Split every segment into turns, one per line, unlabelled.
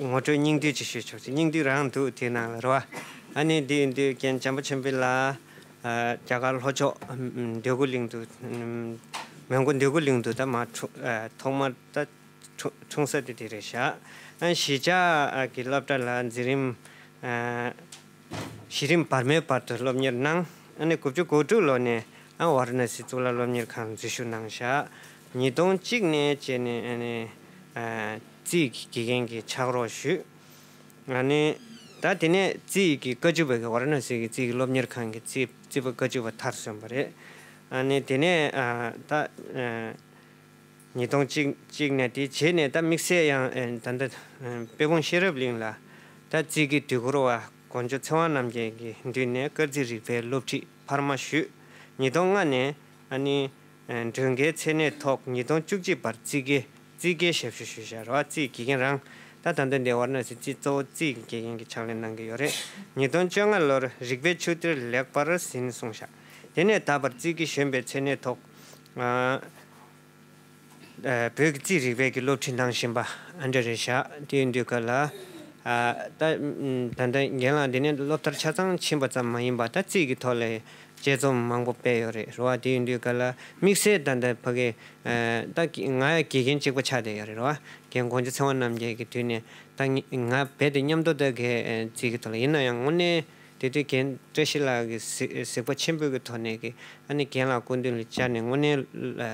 ངོ་སྤྲོད་སྙིང་བསྡུས་ཅིག་ཞུས་ཆོག་ཅིག་སྙིང་བསྡུས་རང་འདུག་དེའི་ནང་ལ་རེ་བ། ཨ་ནེ་འདི་འདི་རྒན་བྱམས་པ་ཆེན་པོའི་ལ། རྒྱ་གར་ལྷོ་ཕྱོགས་འདོད་རྒུ་གླིང་དུ། མོན་གྷོ་འདོད་རྒུ་གླིང་དུ་ད་མ་འཁྲུངས། ཐོག་མར་ད་འཁྲུངས་ས་དེ་དེ་རེད་ཤག། གཞིས་ཆགས་ཀྱི་སློབ་གྲྭ་ལ་འཛིན་རིམ། གཞི་རིམ་བར་མའི་བར་དུ་སློབ་གཉེར་གནང། ཨ་ནེ་དགུ་བཅུ་གོ་དྲུག་ལོ་ནས་བཱ་ར་ན་སི་གཙུག་ལག་སློབ་གཉེར་ཁང་འཛུལ་ཞུགས་གནང་ཤག། ཉིས་སྟོང་གཅིག་ནས་བཅས་ནས། རྩིས་ཀྱི་དགེ་རྒན་གྱིས་ཕྱག་རོགས་ཞུས། ནི། ད་དེ་ནས་རྩིས་ཀྱི་བཀའ་བཅུ་པ་གི་ཝཱ་ར་ནཱ་སི་ཀྱི་རྩིས་ཀྱི་སློབ་གཉེར་ཁང་གི་རྩིས་པ་བཀའ་བཅུ་པ་མཐར་སོན་པ་རེད། ནི། དེ་ནས་ད། ཉིས་སྟོང་གཅིག་ནས་དེ་རྗེས་ནས་ད་དམིགས་བསལ་ཡང་ད་ལྟ་དཔལ་སྤུངས་ཤེས་རབ་གླིང་ལ་ད་རྩིས་ཀྱི་དུས་འཁོར་བ་དགོན་མཆོག་ཚེ་དབང་རྣམ་རྒྱལ་གྱི་མདུན་ནས་སྐར་རྩིས་རིག་པའི་སློབ་ཁྲིད་འཕར་མ་ཞུས། ཉིས་སྟོང་ལྔ་ནས། ནི། མགྲོན་ཁའི་མཚན་གནས་ཐོག་ཉིས་སྟོང་བཅུ་གཅིག་པར་རྩིས་དགེ་རྩིས་དགེའི་ཞབས་ཞུ་ཞུ་བཞག་རེད་བ་རྩིས་དགེ་རྒན་རང་ད་ད་འདོད་འདི་བར་ནས་ཟིན་རྩིས་གཙོ་བོ་རྩིས་དགེ་རྒན་གྱི་ཕྱག་ལེན་གནང་གི་ཡོད་རེད་ཉིས་སྟོང་བཅོ་ལྔ་ལོར་རིག་པའི་ཆུ་གཏེར་ལེགས་པར་ཟིན་གསུངས་བཞག་དེ་ནས་ད་བར་རྩིས་དགེ་གཞོན་པའི་མཚན་གནས་ཐོག་བོད་ཀྱི་རྩིས་རིག་པའི་གི་སློབ་ཁྲིད་གནང་བཞིན་པ་འདྲ་རེད་བཞག་དེའི་འདུས་ཁ་ལ་ད་ད་རྒན་ལགས་འདི་ནས་སློབ་མཐར་ཆ་ཚང་ཕྱིན་པ་ཙམ་མ་ཡིན་པ་ད་རྩིས་ཀྱི་ཐོག་ལས་དཔྱད་རྩོམ་མང་པོ་སྤེལ་ཡོད་རེད་རེད་བ་དེའི་འདུས་ག་ལ་དམིགས་བསལ་ད་ལྟ་ཕ་གི་ད་ང་ཡ་དགེ་རྒན་གཅིག་པ་ཆགས་བསྡད་ཡོད་རེད་རེད་བ་རྒན་གོང་ཆུ་ཚེ་དབང་རྣམ་རྒྱལ་གྱི་དུས་ནས་ད་ང་རྦད་དེ་མཉམ་དུ་ད་གས་རྩིས་ཀྱི་ཐོག་ལ་ཡིན་ན་ཡང་དངོས་གནས་དེ་དུས་རྒན་བཀྲ་ཤིས་ལགས་ཀྱི་གཟིགས་པ་ཆེན་པོས་ཀྱི་ཐོག་ནས་ཀྱི་ཨ་ནི་རྒན་ལགས་སྐུ་མདུན་ལ་བཅར་ནས་དངོས་གནས་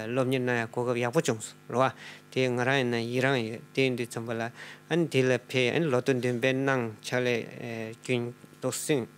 སློབ་གཉེར་གནང་ཡ་གོ་སྐབས་ཡག་པོ་བྱུང་སོང་རེད་བ་དེ་ང་རང་ཡིན་ན་ཡི་རངས་ཡོད་དེའི་འདུས་རྩོམ་པ་ལ་ཨ་ནི་དེ་ལ་ཕེ་ཨ་ནི་ལོ་ཏོག་འདོན་སྤེལ་གནང་ཕྱག་ལས་སྐྱོན་འདུག་སེམས།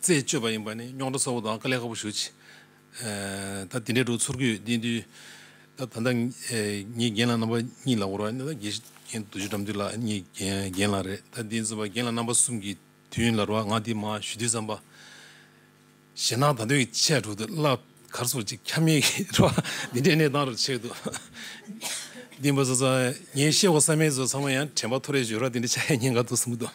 རྩད་གཅོད་པ་ཡིན་པ་ནི་རྙོག་དྲ་གསལ་བོ་དང་དཀའ་ལས་ཁག་པོ་ཞུ། ད་དེ་འདྲའི་སྒྲོག་ཚུར་གུས་བསྟེན་དུས། ད་ད་ངའི་རྒན་ལགས་རྣམ་པ་གཉིས་ལ་བོར་བ་ནི་ད་དགེ་རྒན་དུ་ཆུ་འགྲམ་དུས་ལགས་གཉིས་རྒན་ལགས་རེད། ད་དེ་ཚོ་བ་རྒན་ལགས་རྣམ་པ་གསུམ་གྱི་དུས་ལ་རུ་བ་ང་དེ་མ་ཞུ་དུས་བསམ་པ། ཞེ་ནག་ད་དོན་གྱི་ཆས་དྲུག་དུ་བསླབ་གར་སོགས་ཅིག་ཁྱབ་མེད་ཀྱི་རུ་བ་འདི་འདྲའི་གནས་སྟངས་རུ་ཆས་འདུག། འདི་འབའ་ས་ཚང་ངས་ཤེས་བ་བསམ་མེད་ཚོ་ཚང་མ་ཡང་དྲན་པ་ཐོ་རེ་བྱོས་རོགས་འདི་འདྲའི་ཆ་ཡ་ཉེས་འགའ་འདུག་གསུངས་གི་འདུག།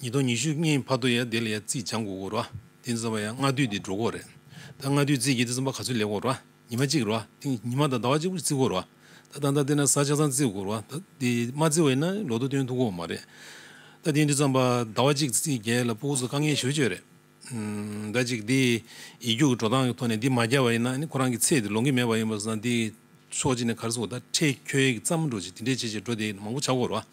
ཉིས་སྟོང་ཉི་ཤུ་ལྔའི་བར་དུ་ཡང་དེ་ལ་ཡང་རྩིས་སྦྱང་དགོས་སྐོར་རོ། དེ་ནི་ཙམ་པ་ཡང་སྔ་དུས་དེ་འགྲོ་སྐོར་རེད། ད་སྔ་དུས་རྩིས་ཀྱི་དེ་ཙམ་པ་ག་ཚོད་ལེགས་སྐོར་རོ། ཉི་མ་གཅིག་རོ། དེ་ཉི་མ་དང་ཟླ་བ་གཅིག་པོ་རྩིས་སྐོར་རོ། ད་ད་ལྟ་དེ་ན་ཟ་ཆ་ཚང་རྩིས་དགོས་རོ། ད་དེ་མ་རྩིས་བ་ཡིན་ན་ལོ་ཏོག་སྟོན་ཐུབ་དགོས་མ་རེད། ད་དེ་དུས་ཙམ་པ་ཟླ་བ་གཅིག་རྩིས་རྒྱལ་ལ་སྤུ་གུ་ཚོ་དཀའ་ངལ་ཞུ་བྱོས་རེད། ཟླ་གཅིག་འདི་ཡིག་རྒྱུགས་ཀྱི་འགྲོ་སྟངས་ཀྱི་ཐོག་ནས་འདི་མ་བསྐྱལ་བ་ཡིན་ན་ཁོ་རང་གི་ཚེ་འདི་ལོང་གི་མེད་པ་ཡིན་པ་བཟང་འདི་ཕྱོགས་གཅིག་ནས་གར་སོང་ད་ཁྲེལ་ཁྱོད་ཡིག་བརྩམས་འགྲོ་ཅིག་དེ་འདྲས་བྱས་བྱས་འགྲོ་དེ་མང་པོ་ཆགས་དགོས་རེད་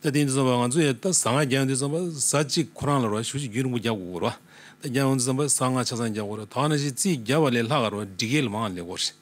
བ། ད་འདི་འདི་བསམ་པ་ང་ཚོ་ཡང་ད་གཟའ་ང་རྒྱལ་ཡོང་དུས་བསམ་པ་གཟའ་གཅིག་ཁོ་རང་ལ་རོགས་ཞུ་ཞིག་རྒྱུགས་རིང་པོ་རྒྱག་དགོས་དགོས་རེད་བ། ད་རྒྱལ་ཡོང་དུས་བསམ་པ་གཟའ་ལྔ་ཆ་ཚང་རྒྱག་དགོས་རེད་ད་ང་ན་ཞིག་རྩིས་བརྒྱབ་པ་ལས་ལྷག་ག་རོགས་འདྲི་གལ་མང་ལེ་དགོས་རེད།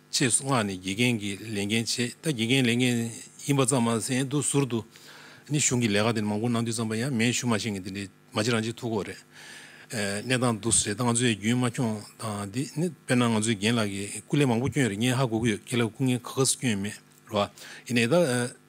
ཅེས་སྔགས་ནི་དགེ་རྒན་གྱི་ལས་འགན་བྱེད་ད་དགེ་རྒན་ལས་འགན་ཡིན་པ་ཙམ་མ་ཟད་དུ་ཟུར་དུ་ནི་གཞུང་གི་ལས་ཀ་དེ་མང་པོ་གནང་དུས་བརྩམས་པ་ཡང་མེད་ཞུ་མ་ཤེས་ངེས་དེ་འདྲའི་མ་གཅིག་རང་གཅིག་ཐུག་གོ་རེད། གནས་སྟངས་འདུག་ཟེར་ད་ང་ཚོས་རྒྱུན་མ་འཁྱོངས་སྟངས་དེ་ནི་དཔེར་ན་ང་ཚོས་རྒན་ལགས་ཀྱི་སྐུ་ལས་མང་པོ་བསྐྱོན་རེད་ངས་ཧ་གོ་གི་ཡོད་ཁྱེད་ལ་སྐུ་ངལ་ག་ག་སུ་བསྐྱོན་ཡོད་མེད་རེད་བ། ཡིན་ན་ད།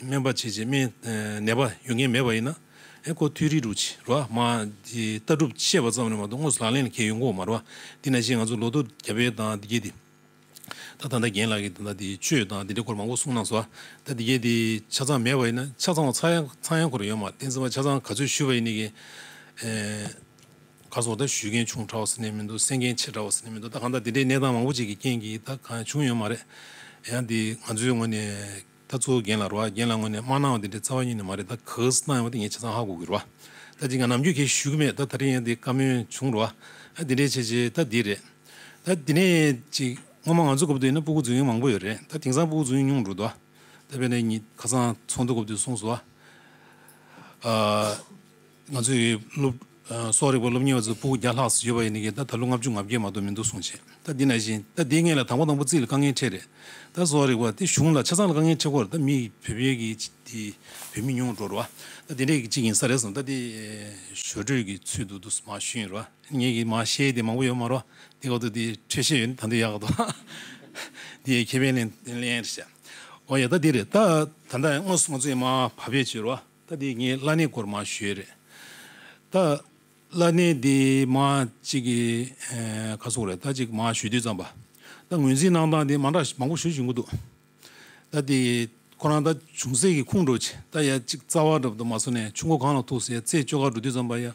སྨན་པ་བྱས་རྗེས་སྨན་ནད་པ་ཡོད་མཁན་མེད་པ་ཡིན་ན། ཨེ་ཀོ་ཐུའི་རིགས་དྲུག་ཅེས་རོ་ཨ་མ་ཀྱི་ལྟ་གྲུབ་བཤད་པ་ཙམ་ལས་མ་གཏོགས་དངོས་སུ་ལག་ལེན་ལ་འཁེལ་ཡོད་མཁོ་བ་མ་རེད། དེ་ནས་བཞིན་ང་ཚོ་ལོ་ཏོག་རྒྱ་བལ་དང་འདི་སྐད་དེ། ད་ད་ལྟ་རྒན་ལགས་ཀྱིས་ད་ལྟ་དེ་བཅོས་དང་དེ་འདྲའི་སྐོར་མང་པོ་གསུངས་གནང་སོ། ད་འདི་སྐད་དེ་ཆ་ཚང་མེད་པ་ཡིན་ན་ཆ་ཚང་བ་ཚང་ཡང་ཚང་ཡང་ཁོར་ཡོད་མ་བསྟན་ཟེར་བ་ཆ་ཚང་ག་ཚོད་ཞུས་པ་ཡིན་ནི་གན། ག་ཚོད་ད་ཞུས་མཁན་ཆུང་དྲག་བ་ཟེར་ནས་མི་འདུག་གསན་མཁན་ཆེ་དྲག་བ་ཟེར་ནས་མི་འདུག་ད་གང་ལྟར་དེ་འདྲའི་གནས་སྟངས་མང་པོ་ཅིག་གི་རྐྱེན་གྱིས་ད་གང་ཡང་བྱུང་ཡོད་མ་རེད། ཡང་དེ་ང་ཚོའི་ངོས་ནས། ད་གཙོ་བོ་རྒན་ལ་རོ་ཨ་རྒན་ལ་དངོས་ནས་མ་གནང་བ་དེ་འདྲའི་རྩ་བ་ཉིད་ནས་མ་རེད་ད་གྷི་སི་ཐན་ཡོང་བ་དེ་ངས་བྱས་ཙང་ཧ་གོ་གི་རོ་ཨ་ད་ཅིག་ང་ནམ་རྒྱུན་ཁྱེད་ཞུ་གི་མེད་ད་ད་རིང་ཡང་དེ་བཀའ་མོལ་བྱུང་རོ་ཨ་དེ་འདྲའི་བྱས་རྗེས་ད་འདི་རེད་ད་དེ་ནས་ཅིག་སྔོན་མ་ང་ཚོ་གོ་བ་དུ་ཡིན་ན་སྤུ་གུ་རྫུན་ཡོང་མང་པོ་ཡོད་རེད་ད་དེང་སང་སྤུ་གུ་རྫུན་ཡོང་ཉུང་འགྲོ་འདུག་ད་དཔེ་ན་ཁ་སང་ཚོགས་འདུ་གོ་བ་དུ་གསུངས་སོ་ཨ། ང་ཚོའི་སློབ་གསོ་རིག་པ་སློབ་གཉེར་བ་ཚོ་སྤུ་བརྒྱ་ལྷག་བཟོས་པ་ཡིན་ནི་ད་ད་ལོ་ལྔ་བཅུ་ང་བརྒྱད་མ་གཏོགས་མི་འདུག་གསུངས་རྗེས་ད་འདི་ན་བཞིན་ད་འདི་ངེད་ལ་དང་པོ་དང་པོ་རྩིས་ལ་དཀའ་ངལ་འཕྲད་རེད་ད་གསོ་རིག་པ་དེ་གཞུང་ལ་ཆ་ཚང་ལ་དཀའ་ངལ་འཕྲད་སྐོར་ད་མི་བུད་བེད་ཀྱི་དེ་བུད་མི་ཉུང་འགྲོ་རུ་བ་ད་དེ་འདྲས་ཀྱི་གཅིག་ཡིན་ས་རེད་གསུངས་ད་དེ་ཞོར་འཕྲོས་ཀྱི་ཚུལ་དུ་དུ་མ་ཞུས་རུ་བ་ངེད་ཀྱིས་མ་ཤེས་དེ་མང་པོ་ཡོད་མ་རུ་བ་དེ་ག་དུ་དེ་འཕྲོས་ཤེས་ཡོད་ནི་ད་འདི་ཡག་ག་དུ་འདི་ཡའི་ཁེ་ཕན་ལེན་ལེན་རེད་བྱས་ཨོ་ཡ་ད་འདི་རེད་ད་ད་ད་ང་ཚོའི་མ་བ་བེད་བྱས་རུ་བ། ད་དེ་ངའི་བླ་གནས་སྐོར་མ་ཤོད་རེད། ད་བླ་གནས་དེ་མ་ཅིག་གི་ཁ་སོགས་རེད་ད་ཅིག་མ་ཞུས་དུས་ཙམ་པ། ད་ངོས་འཛིན་གནང་སྟངས་དེ་མང་དྲགས་མང་པོ་ཞུ་བཞིན་གི་འདུག་ད་དེ་ཁོ་རང་ད་ཅུང་ཟད་ཀྱི་ཁུངས་འགྲོ་ཅིག་ད་ཡ་ཅིག་རྩ་བ་རབ་ཏུ་མ་སོ་ནས་ཆུ་མགོ་གང་ལ་ཐུག་སའི་རྩེ་སྤྱོད་ཁ་འགྲོ་དུས་ཙམ་པ་ཡ།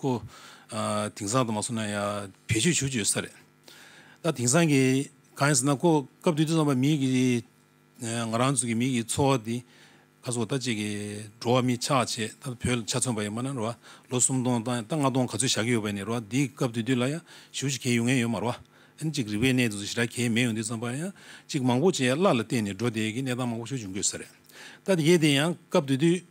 ཀོ། དེང་སང་དུ་མ་སོང་ན་ཡང་བེད་སྤྱོད་བྱུ་བྱུས་ས་རེད། ད་དེང་སང་གི་གང་ཡིན་ཟེར་ན་ཀོ་སྐབས་དུས་དུ་ཙམ་པ་མིག་གི་ང་རང་ཚོ་གི་མིག་གི་འཚོ་བ་འདི་ཁ་སོ་ད་ཅིག་གི་འགྲོ་བ་མི་ཆགས་ཆེད་ད་བོད་ལ་ཆ་མཚོན་པ་ཡིན་མ་ན་རེད་བ་ལོ་སུམ་སྟོང་ད་ལྔ་སྟོང་ག་ཚོད་བཞག་གི་ཡོད་པ་ཡིན་རེད་བ་འདི་སྐབས་དུས་དུས་ལ་ཡང་བྱུ་བྱུས་གས་ཡོང་ངེས་ཡོད་མ་རེད་བ། ཨན་ཅིག་རིག་པའི་གནས་དུ་ཟེར་ཞེ་དྲག་གས་མེད་ཡོང་དུས་ཙམ་པ་ཡང་ཅིག་མང་པོ་ཅིག་ཡ་བླ་ལ་བསྟེན་ནས་འགྲོ་བསྡད་ཀི་གནས་སྟངས་མང་པོ་ཞིག་འབྱུང་དགོས་ས་རེད། ད་དེ་གས་དེ་ཡང་སྐབས་དུས་དུས།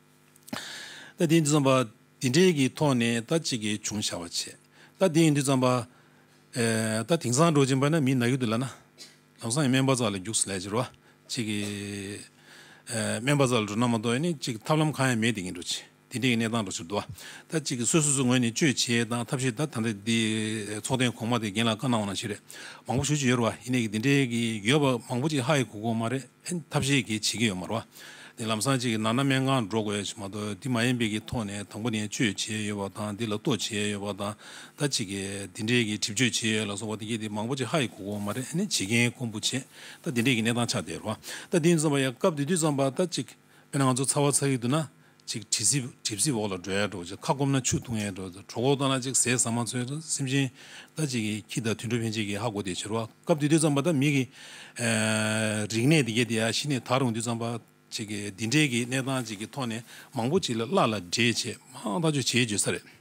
ལྟ་དེའི་འདུས་བརྩམས་པ། དེ་འབྲེལ་གྱི་ཐོག་ནས་ལྟ་གཅིག་གི་བྱུང་བྱ་བར་བྱས། ལྟ་དེའི་འདུས་བརྩམས་པ། ལྟ་དེང་སང་འགྲོ་ཅིང་པ་ན་མི་ནག་གི་དུས་ལ་ན། ལམ་སང་ཡང་སྨན་པ་ཙག་ལ་རྒྱུགས་སུ་ལས་ཅི་རོ། གཅིག་གི། སྨན་པ་ཙག་ལ་འགྲོ་ན་མ་གཏོགས་ནི་གཅིག་ཐབས་ལམ་གང་ཡང་མེད་དེ་ངས་འགྲོ་ཅི། དེ་འབྲེལ་གྱི་གནས་སྟངས་འགྲོ་ཕྱིར་དུ། ལྟ་གཅིག་གི་སོ་སོ་སོའི་ངོས་ནས་དཔྱོད་བྱེད་དང་ཐབས་ཤེས་ལྟ་ད་ལྟ་འདི། ཚོགས་ཐེངས་གོང་མ་དེ་རྒན་ལ་བཀའ་གནང་བ་ནང་བཞིན་རེད་མང་པོ་ཞུ་བྱེད་ཡོད་རེད་བ། ཡིན་ནའི་གི་དེ་འབྲེལ་གྱི་ཡོད་པ་མང་པོ་ཅིག་ཧ་ཡི་གུ་གུ་འོ་མ་རེད། ཐབས་ཤེས་ཀྱིས་བྱེད་ཀྱི་ཡོད་མ་རེད། དེ་ལམ་སང་གཅིག་གི་ནང་ན་སྨན་ཁང་སྒྲོག་དགོས་ཡོད་ཅིག་མ་གཏོགས་དེ་མ་ཡིན་པའི་ཀྱི་ཐོག་ནས་དང་པོ་ནས་བཅོས་བྱས་ཡོད་པ་དང་དེ་ལ་གཏོ་བྱས་ཡོད་པ་དང་ད་གཅིག་གི་དེ་འདྲའི་ཀྱི་གྲིབ་བཅོས་བྱས་ཡོད་ལ་སོགས་པ་དེ་ཀྱི་དེ་མང་པོ་ཅིག་ཧ་ཡི་གོ་གོ་མ་རེད་ཨ་ནི་བྱེད་མཁན་ཁོང་བུ་བྱེད་ད་དེ་འདྲའི་ཀྱི་གནས་སྟངས་ཆགས་བསྡད་རོ། ད་དེ་ནས་བརྩམས་པ་ཡ་སྐབས་དེ་དུས་བརྩམས་པ་ད་གཅིག་དཔེར་ན་ང་ཚོ་ཚ་བ་ཚ་ཡུལ་དུ་ན་ཅིག་གྲིབ་བསིལ་བོགས་ལ་སྒྲོལ་ཡག་འགྲོ་ཅིག་ཁ་སྐོམ་ན་ཆུ་འཐུང་ཡག་འགྲོ་གྲོགས་ཁོག་བཏང་ན་ཅིག་ཟས་ཟ་མ་འཚོལ་འགྲོ་སེམས་ཅན་ད་ཅིག་གི་ཁྱི་དང་དུད་འགྲོ་ཕན་ཆད་ཀྱི་ཧ་གོ་དེ་བྱེད་རོགས་སྐབས་དུས་དུས་ཙམ་པ་ད་མི་གི་རིག་གནས་དེ་གས་དེ་ཡ་གཞི་ནས་ད་རུང་དུས་ཙམ་པ་ཅིག་གི་འདི་འདྲའི་གི་གནས་སྟངས་ཅིག་གི་ཐོག་ནས་མང་པོ་ཅིག་ལ་བླ་ལ་འདྲེས་བྱེད་མང་ཐག་ཆོད་བྱེད་བརྗོད་ས་རེད།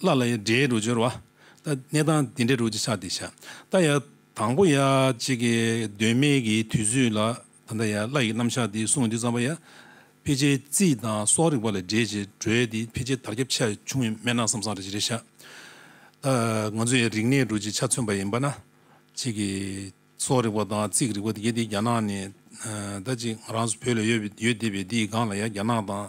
སླར་ལ་ཡང་འདྲེའི་རོ་སྦྱོར་བ། གནས་དང་དེ་འདྲའི་རོ་གཅིག་ཆགས་ཏེ་བྱ། ད་ཡང་དང་པོ་ཡང་གཅིག་གི་གདོད་མའི་གི་དུས་ཚོད་ལ་ད་ལྟ་ཡང་སླར་ཡི་གེ་རྣམ་གཞག་དེའི་གཟུངས་འདི་བརྩམས་པ་ཡང། ཕལ་ཆེར་རྩིས་དང་སྲོག་རིག་པ་ལས་འདྲེས་བྱེད་གྲོལ་ཏེ་ཕལ་ཆེར་དར་ཁྱབ་ཆ་ཆུང་བས་སྨན་སྣ་སམ་སྲང་རེ་བཞི་རེ་བཞག། ད་ང་ཚོས་ཡང་རིག་གནས་རོ་གཅིག་ཆ་མཚོན་པ་ཡིན་པ་ན། གཅིག་གི་སྲོག་རིག་པ་དང་རྩིས་ཀྱི་རིག་པ་དེ་གའི་དེ་རྒྱ་ནག་ནས་ད་གཅིག་ང་རང་བོད་ལ་ཡོད་དེ་བས་དེའི་སྒང་ལ་ཡང་རྒྱ་ནག་དང་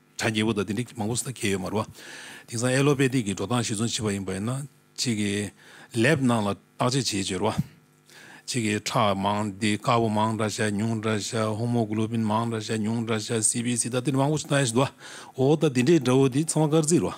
བྱ་རྒྱལ་པོ་དང་དེ་འདྲས་མང་པོ་སུ་ད་གལ་ཡོད་མ་རུ་བ། དེང་སང་ཨེ་ལོ་པེ་ཏིག་གི་འགྲོ་སྟངས་གཞིར་བཟུང་བྱེད་པ་ཡིན་པ་ཡིན་ན། གཅིག་གིས་ལེབ་ནང་ལ་བརྟག་དཔྱད་བྱེད་ཅོལ་བ། གཅིག་གིས་ཁྲག་མང་འདི་དཀར་པོ་མང་འདྲ་བྱ་ཉུང་འདྲ་བྱ་ཧོ་མོ་གུ་ལོ་བིན་མང་འདྲ་བྱ་ཉུང་འདྲ་བྱ་སི་བྷི་སི་ད་དེ་འདྲས་མང་པོ་སུ་ད་ཡོད་བ། འོ་ད་དེ་འདྲས་འདྲ་བོ་དེ་ཚང་མ་དཀར་རྩིས་རུ་བ།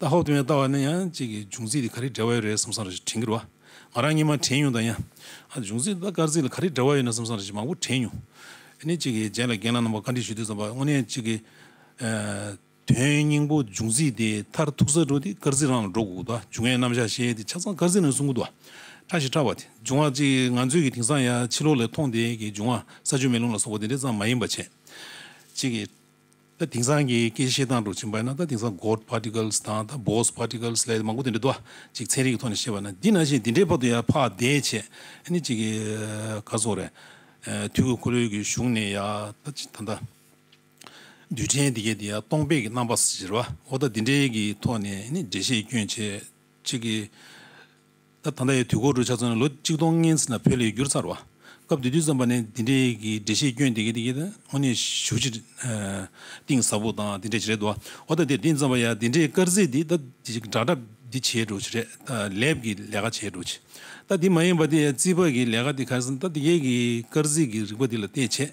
ད་ཧོ་ཏུ་ཡང་ལྟ་བ་ན་ཡང་གཅིག་གི་འབྱུང་རྩིས་དེ་ག་རེ་འབྲེལ་བ་ཡོད་རེད་བསམ་བསམ་རེ་དྲན་གྱི་རུང་ང་རང་གཉིས་མ་དྲན་ཡོང་དང་ཡང་ཨ་འབྱུང་རྩིས་དང་ད་སྐར་རྩིས་ལ་ག་རེ་འབྲེལ་བ་ཡོད་ན་བསམ་བསམ་རེ་མང་པོ་དྲན་ཡོང། ཨ་ནི་གཅིག་གི་རྗེས་ལ་རྒན་ལགས་རྣམ་པ་བཀའ་འདྲི་ཞུ་དུས་བསམ་པ་དངོས་གནས་གཅིག་གི་དོན་སྙིང་པོ་འབྱུང་རྩིས་དེ་མཐར་ཐུག་ས་འགྲོ་དེ་སྐར་རྩིས་རང་ལ་འགྲོ་དགོས་དགོས་ད་འབྱུང་བའི་རྣམ་གཞག་བཤད་དེ་ཆ་ཚང་སྐར་རྩིས་ནང་གསུང་གི་འདུག་ཕྲ་ཞིག་ཕྲ་བ་དེ་འབྱུང་བ་གཅིག་ང་ཚོས་ཀྱི་དེང་སང་ཡང་ཕྱི་ལོགས་ལས་མཐོང་དེ་གི་འབྱུང་བ་ས་ཆུ་མེ་རླུང་ལ་སོགས་པ་དེ་འདྲས་ཙམ་མ་ཡིན་པ་བྱས། གཅིག་གི། ད་དེང་སང་གི་སྐད་བཤད་སྟངས་དུ་ཕྱིན་པ་ཡིན་ན་ད་དེང་སང God Particles དང་ད Bose Particles ལས་མང་པོ་དེ་འདྲ་འདུག་ཅིག་ཚན་རིག་གི་ཐོག་ནས་བཤད་པ་ན་འདི་ན་བཞིན་དེ་འདྲའི་བར་དུ་ཡང་ཕ་འདས་བྱས་ནི་ཅིག་གི་ག་སོགས་རེད། དུས་ཀྱི་འཁོར་ལོའི་གི་གཞུང་ནས་ཡང་ད། རྡུལ་ཕྲན་དེ་གའི་དེ་ཡང་སྟོང་པས་གི་རྣམ་པ་ཟེར་བ་འོ་ད་དེ་འདྲའི་གི་ཐོག་ནས་ནི་འགྲེལ་བཤད་སྐྱོན་བྱས་ཅིག་གི། སྐབས་དང་ད་ཡའི་དུས་འཁོར་རུ་ཆགས་ཚུན་ལ་ལོ་གཅིག་སྟོང་ལྔའི་ཚུན་ལ་བོད་ལས་བསྒྱུར་ཚར་བ། སྐབས་དེ་དུས་བརྩམས་པ་ནི་འདི་འདྲའི་འགྲེལ་བཤད་སྐྱོན་དེ་གས་དེ་གས་དང་དངོས་གནས་ཞུ་ཕྱིར་གཏིང་ཟབ་པོ་དང་དེ་འདྲས་བྱེད་རེད་འདུག་བ་ད་འདིར་འདི་བརྩམས་པ་ཡང་དེ་འདྲའི་དཀར་ཟིལ་འདི་ད་འདྲ་འདྲ་འདི་བྱས་འགྲོ་ཕྱིར་རེད་ད་ལས་ཀྱི་ལས་ཀ་བྱས་འགྲོ་ཕྱིར་ད་འདི་མ་ཡིན་པ་འདི་ཡང་རྩིས་པ་གི་ལས་ཀ་འདི་ག་ཟིན་ད་འདི་གས་ཀྱི་དཀར་ཟིལ་གྱི་རིག་པ་འདི་ལ་བལྟས་བྱས་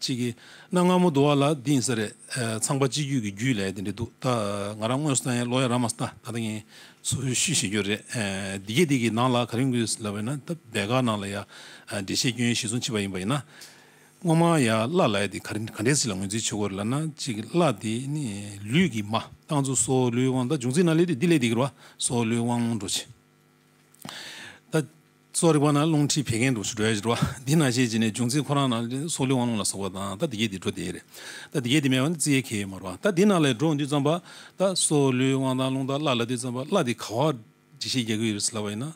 ཅིག་གིས་གནའ་སྔ་མོ་འདུ་བ་ལ་དེང་ས་རེད་ཚངས་པ་སྤྱི་རྒྱུད་ཀྱི་རྒྱུད་ལས་དེ་འདྲ་འདུག་ད་ང་རང་དངོས་སུ་ལྟ་ཡང་ལོ་ཡ་ར་མ་ས་ད་ད་ངས་ཚུར་ཤུས་བྱེད་རྒྱུ་རེད་འདི་གས་འདི་གིས་ནང་ལ་ག་རེ་འགུལ་ཟེར་ལབ་པས་ན་ད་བད་ག་ནང་ལ་ཡ་འདྲེ་ཆད་སྐྱོན་ཞིག་སོང་ཕྱི་པ་ཡིན་པ་ཡིན་ན་སྔོན་མ་ཡ་བླ་ལ་ཡ་དེ་ག་ག་འདྲེ་ཞིག་ལ་ངོས་འཛིན་བྱེད་དགོས་རེད་ལབ་ན་ཅིག་གིས་བླ་དེ་ནི་ལུས་ཀྱི་མ་རྐང་ཚུ་སོ་ལུའི་དབང་ད་འབྱུང་རྩིས་ན་ལས་དེ་འདི་ལས་འདི་གིར་བ་སོ་ལུའི་དབང་འགྲོ་ཅིག་ད། གཙོ་རིག་པ་ན་རླུང་མཁྲིས་བད་ཀན་དུག་ཆུ་དྲོད་ཀྱི་འགྲོ་བ། འདི་ན་ཤེས་བྱེད་ནི་འབྱུང་རྩིས་ཁོ་རང་ན་ལས་སྲོག་ལུས་དབང་རླུང་ལ་སོགས་པ་དང་ལྟ་འདི་སྐད་དེ་འགྲོ་དེ་རེད། ལྟ་འདི་སྐད་དེ་མེད་པ་ནི་རྩིས་ཡེ་གེ་ཡོད་མ་རུང་བ། ལྟ་འདི་ན་ལས་འགྲོ་འདུས་བརྩམས་པ། ལྟ་སྲོག་ལུས་དབང་དང་རླུང་ལྟ་བླ་ལ་འདུས་བརྩམས་པ་བླ་འདི་ག་བ། འདྲི་ཤེས་རྒྱལ་ཀུན་ཡོད་པའི་ལབ་པ་ཡིན་ན།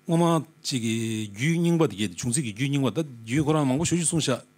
སྔོན་མ་གཅིག་གི་རྒྱུད་རྙིང་པ་འདི་སྐད་དེ་འབྱུང་རྩིས་ཀྱི་རྒྱུད་རྙིང་པ་ལྟ་རྒྱུད་ཁོ་རང་མང་པོ་ཞུ་ཞེས་གསུངས་བཞག།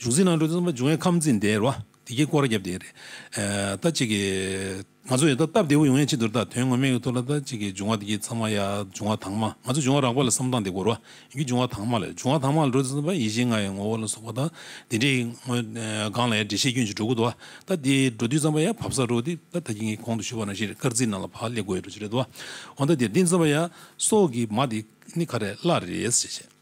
བྱུང་ཚིག་ནང་དུ་རྩོམ་པ་འབྱུང་བའི་ཁམས་འཛིན་བདེ་རོ་བདེ་ཀྱི་སྐོར་བརྒྱབ་བསྡད་རེད། ད་ཅིག་གི་ང་ཚོ་ཡོད་ད་སྟབས་བདེ་བོ་ཡོང་ཡས་ཅི་འདུར་ད་དོན་ངོ་མས་ཡོད་ཐུག་ལ་ད་ཅིག་གི་འབྱུང་བ་དེ་ཚང་མ་ཡ་འབྱུང་བ་དྭངས་མ་ང་ཚོ་འབྱུང་བ་རགས་པ་ལ་བསམ་སྟངས་དེ་གོ་རོ་ཡི་འབྱུང་བ་དྭངས་མ་ལ་འབྱུང་བ་དྭངས་མ་ལ་འགྲོ་དེ་རྩོམ་པ་ཡིད་བཞིན་ང་ཡི་ངོ་བོ་ལ་སོགས་པ་ད་དེ་འདྲའི་སྒང་ལ་ཡ་འགྲེལ་བཤད་སྐྱོན་ཅིག་འགྲོ་དགོས་འདུག་ད་དེ་འགྲོ་དུས་རྩོམ་པ་ཡ་བབས་ས་རོ་དེ་ད་ད་ཀྱི་ངའི་གོང་དུ་ཞུས་པ་ནང་བཞིན་རེད་སྐར་རྩིས་ནང་ལ་བག་ལེབ་དགོས་ཡོད་རེད་འདུག་འོ་ད་དེ་འདི་རྩོམ་པ་ཡ་སོགས་ཀྱི་མ་དེ་ནི་ག་རེ་བླ་རེད་ཞེས་བཤད།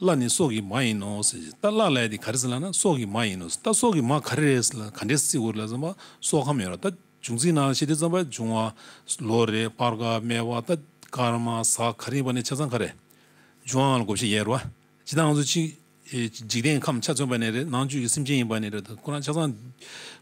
བརླ་ནི་སྲོག་གི་མ་ཡིན་ནོ་ཟེར་གྱིས་ད་བརླ་ལས་དེ་ག་རེ་ཟེར་ལ་ན་སྲོག་གི་མ་ཡིན་ནོ་ཟེར་ད་སྲོག་གི་མ་ག་རེ་རེད་ཟེར་ལ་ག་འདྲའི་སྲིད་འོ་རེད་ལ་ཟེར་བ་སྲོག་ཁམས་ཡོད་ར་ད་འབྱུང་རྩིས་ནང་ལ་ཤེས་ཏེ་རྩམ་པ་འབྱུང་བ་ལོ་རེད་སྤར་དཀར་སྨེ་བ་ད་སྐར་མ་ཟ་ག་རེ་ཡིན་པ་ནས་ཆ་ཚང་ག་རེ་འབྱུང་བའང་ལ་གོ་བཤད་ཡས་ར་བ་ཇི་ལྟར་ང་ཚོ་གཅིག་འཇིག་རྟེན་ཁམས་ཆ་མཚོན་པ་ནས་རེད་ནང་བཅུད་ཀྱི་སེམས་ཅན་ཡིན་པ་ནས་རེད་ད་ཁོ་རང་ཆ་ཚང་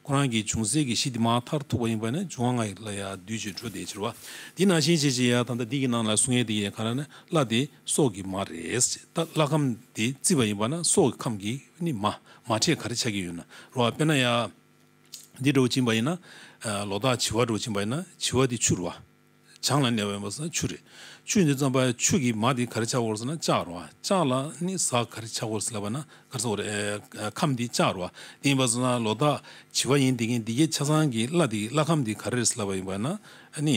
ཁོ་རང་གི་འབྱུང་སྲིད་ཀྱི་གཞི་དེ་མ་མཐར་ཐུག་པ་ཡིན་པ་ནས་འབྱུང་བ་ང་ལ་ཡང་འདུས་བྱས་འཕྲོ་དེའི་ཕྱིར་བ་དེ་ནང་བཞིན་བྱས་བྱས་ཡས་ད་ད་འདི་གི་ནང་ལ་གསུང་ཡས་འདི་ཡས་ག་ར་ན་བརླ་དེ། སྲོག་གི་མ་རེད། ད་བླ་ཁམས་དེ་བརྩི་བ་ཡིན་པ་ན་སྲོག་གི་ཁམས་ཀྱི་ནི་མ། མ་ཕྲད་ག་རེ་ཆགས་ཀྱི་ཡོད་ན་རོ། དཔེར་ན་ཡ། འདི་གྲོ་བ་བྱིན་པ་ཡིན་ན། ལོ་ཏོག་བྱི་བ་གྲོ་བ་བྱིན་པ་ཡིན་ན་བྱི་བ་དེ་ཆུ་རུ་བ། བྱང་ལ་གནས་པ་ཡིན་པ་ས་ཆུ་རེད། ཆུ་འདི་ཙམ་པ་ཆུ་གི་མ་དེ་ག་རེ་ཆགས་དགོས་ཟེར་ན་ལྕགས་རུ་བ། ལྕགས་ལ་ནི་ཟ་ག་རེ་ཆགས་དགོས་ཟེར་བ་ན་ག་ཟེར་བ་རེད། ཁམས་འདི་ལྕགས་རུ་བ་དེ་ཡིན་པ་ཟེར་ན་ལོ་ཏོག་བྱི་བ་ཡིན་དེ་གིན་འདི་གའི་ཆ་ཚང་གི་བླ་དེ་བླ་ཁམས་དེ་ག་རེ་རེད་ཟེར་བ་ཡིན་པ་ན་ནི།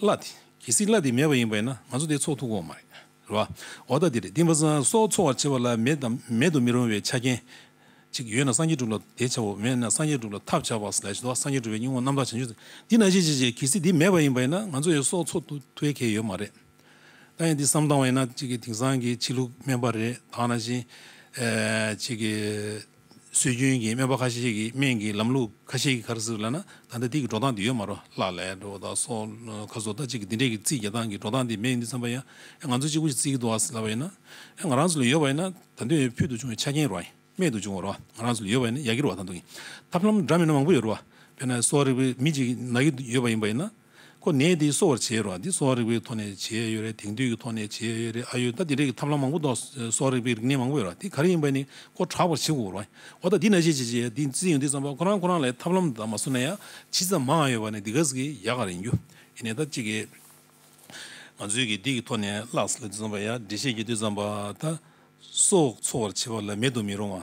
བླ། གལ་སྲིད་བླ་དེ་མེད་པ་ཡིན་པས་ན་ང་ཚོ་དེ་འཚོགས་ཐུབ་ཀོ་མ་རེད། རེད་བ། འོ་ད་དེ་རེད་དེ། སོགས་འཚོགས་བར་བྱེད་པ་ལ་མེད་དམ་མེད་དུ་མི་རུང་བའི་ཆ་རྐྱེན། གཅིག་ཡོད་ན་སངས་རྒྱས་སྒྲུབ་ལ་དེ་བྱའོ་མེད་ན་སངས་རྒྱས་སྒྲུབ་ལ་ཐབས་བྱ་བ་ལས་བྱེད་དོ་སངས་རྒྱས་སྒྲུབ་པའི་སྙིང་བོ་རྣམ་དག་བྱང་ཆུབ་འདི་ན་ཅི་བྱེད་ཅེས་གལ་སྲིད་དེ་མེད་པ་ཡིན་པས་ན་ང་ཚོ་ཡོད་སོགས་འཚོགས་ཐུབ་ཐུབ་མཁན་ཡོད་མ་རེད། ད་ཡང་འདི་བསམ་སྟངས་བས་ན་གཅིག་གི་དེང་སང་གི་ཕྱི་ལུགས་སྨན་པ་རེད་དག་ན་བཞིན། གཅིག་གི། སྲོལ་རྒྱུན་གྱི་སྨན་པ་ཁ་ཤས་ཀྱིས་སྨན་གྱི་ལམ་ལུགས་ཁ་ཤས་ཀྱི་ཁར་ཟུར་ལ་ན་ད་ལྟ་འདི་གི་འགྲོ་སྟངས་འདི་ཡོད་མ་རོ་ལ་ལས་འགྲོ་བ་དང་སོ་ཁ་བཟོ་ལྟ་ཅི་གི་འདི་འདྲས་ཀྱི་རྩིས་རྒྱག་སྟངས་ཀྱི་འགྲོ་སྟངས་འདི་མེད་ཡོད་འདུག་བསམ་པ་ཡང་ང་ཚོ་གཅིག་པུ་ཞིག་རྩིས་ཀྱི་འདུག་ལབ་པ་ཡིན་ན། ང་རང་ཚོ་ལ་ཡོད་པ་ཡིན་ན་ད་དུས་ཕུལ་དུ་བྱུང་བའི་ཆ་རྐྱེན་རོ་རྨད་དུ་བྱུང་བ་རོ་ང་རང་ཚོ་ལ་ཡོད་པ་ཡིན་ན་ཡག་གི་རོ་ད་དུང་ཐབས་ལམ་འདྲ་མིན་མང་པོ་ཡོད་རོ་བས་ན་གསོ་རིག་པའི་མི་ཅིག་ན་གི་ཡོད་པ་ཡིན་པ་ཡིན་ན། ཁོ་ནད་འདི་གསོ་བར་བྱེད་ཡོད་རེད་བ་འདི་གསོ་བ་རིག་པའི་ཐོག་ནས་བྱེད་ཡོད་རེད་དེང་དུས་ཀྱི་ཐོག་ནས་བྱེད་ཡོད་རེད་ཨ་ཡོད་ད་དེ་འདྲ་གི་ཐབས་ལམ་མང་པོ་འདུག་གསོ་བ་རིག་པའི་རིག་གནས་མང་པོ་ཡོད་རེད་དེ་ག་རེ་ཡིན་པ་ནི་ཁོ་དྲག་པར་བྱེད་དགོས་རེད་འོ་ད་འདི་ན་ཅི་ཅི་ཅི་འདི་ཅི་ཡིན་འདི་ཙམ་པ་ཁོ་རང་ཁོ་རང་ལས་ཐབས་ལམ་དེ་དག་མ་བཟོ་ན་ཡང་ཇི་ཙམ་མང་ཡོད་པ་ནི་འདི་ག་ཟིག་གིས་ཡག་ག་རེ་ཡིན་རྒྱུ་ཡིན་ནས་ད་ཅི་གི་ང་ཚོའི་གི་འདི་གི་ཐོག་ནས་བརླགས་ཟིན་ལ་འདི་ཙམ་པ་ཡང་འབྲེལ་བཤད་རྒྱུ་འདི་ཙམ་པ་ད་སྲོག་འཚོ་བར་བྱེད་པ་ལ་མེད་དུ་མི་རུང་བ།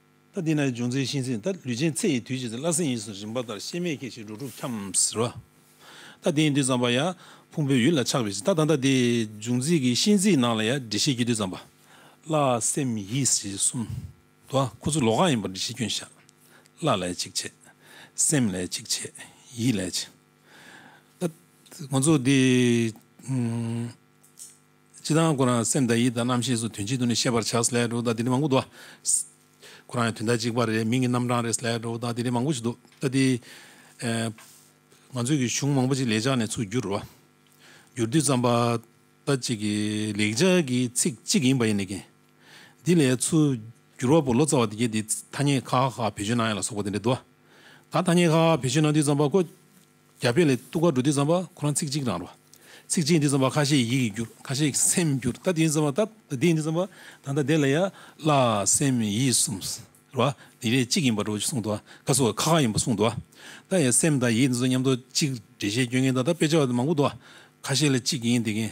ད་འདི་ན་ཡི་འབྱུང་ཚེ་ཤིང་སྲིན་ད་ལུས་ཅན་ཚེ་ཡི་དུས་བྱས་ཚེ་བླ་སྲིན་ཡིད་བཞིན་རིམ་པ་ལྟར་ཤེས་མེད་ཁྱེད་ཤི་འགྲོ་དྲུག་འཁྱམས་ཟེར་བ། ད་དེ་ཡི་དུས་བརྩམས་པ་ཡང་ཕུང་པོའི་ཡུལ་ལ་ཆགས་པའི་ཕྱིར་ད་ད་ད་དེ་ཡི་འབྱུང་ཚེ་ཀྱི་ཤིང་སྲིན་ནང་ལ་ཡང་འདྲེ་ཤེས་ཀྱི་དུས་བརྩམས་པ། བླ་སེམས་ཡིད་བཞིན་གསུམ། དུ་ཨ་ཁོ་ཚོ་ལོག་གང་ཡིན་པར་འདྲེ་ཤེས་སྐྱོན་བཤགས། བླ་ལས་གཅིག་བྱས། སེམས་ལས་གཅིག་བྱས། ཡིད་ལས། ད་ང་ཚོ་འདི། ཅི་ལྟར་ན་ཁོ་རང་སེམས་དང་ཡིད་དང་རྣམ་ཤེས་སུ་དོན་གཅིག་ཏུ་ནི་ཤེས་པར་བྱ་སླའི་འགྲོ་བ་དག་དེ་ནི་མང་པོ་འདུག། ཁོ་རང་ཡང་དོན་དག་གཅིག་པ་རེད་མིང་གི་རྣམ་གྲངས་རེད་སླའི་འགྲོ་བ་དག་དེ་ནི་མང་པོ་ཞིག་འདུག་ད་དེ། ང་ཚོས་ཀྱི་གཞུང་མང་པོ་ཅིག་ལེགས་སྦྱར་ནས་ཚུར་བསྒྱུར། བསྒྱུར་དུས་བརྩམས་པ་ལྟ་ཅི་གི་ལེགས་སྦྱར་གྱི་ཚིག་གཅིག་ཡིན་པ་ཡིན་ནི་ཀྱི། འདི་ལས་ཚུར་བསྒྱུར་བ་པོ་ལོ་ཙཱ་བ་དེ་གས་དེ་ཐ་སྙད་ཁག་ཁག་བེད་སྤྱོད་གནང་ཡ་ལ་སོགས་པ་དེ་འདྲ་འདུག། ད་ཐ་སྙད་ཁག་བེད་སྤྱོད་གནང་དུས་བརྩམས་པ་ཀོ། རྒྱ་དཔེ་ལས་གཏུགས་ཁ་འགྲོ་འདི་ཙམ་པ་ཁོ་རང་ཚིག་གཅིག་རང་རོ། ཚིག་གཅིག་འདི་ཙམ་པ་ཁ་ཤས་ཡིད་ཀྱི་འགྱུར་ཁ་ཤས་སེམས་འགྱུར་ད་འདི་ཙམ་པ་ད་འདི་འདི་ཙམ་པ་ད་ད་འདི་ལ་ཡ་བླ་སེམས་ཡིད་གསུམ་རོ། འདི་རེ་གཅིག་ཡིན་པ་འགྲོ་གསུངས་འདུག་ཁ་སོ་ཁ་ཁ་ཡིན་པ་གསུངས་འདུག་ད་ཡ་སེམས་དང་ཡིད་འདི་ཚོ་མཉམ་འདུག་གཅིག་འགྲེལ་བཤད་སྐྱོན་མཁན་ད་ད་དཔེ་ཆ་མང་པོ་འདུག་ཁ་ཤས་ལ་གཅིག་ཡིན་འདི་ཁན།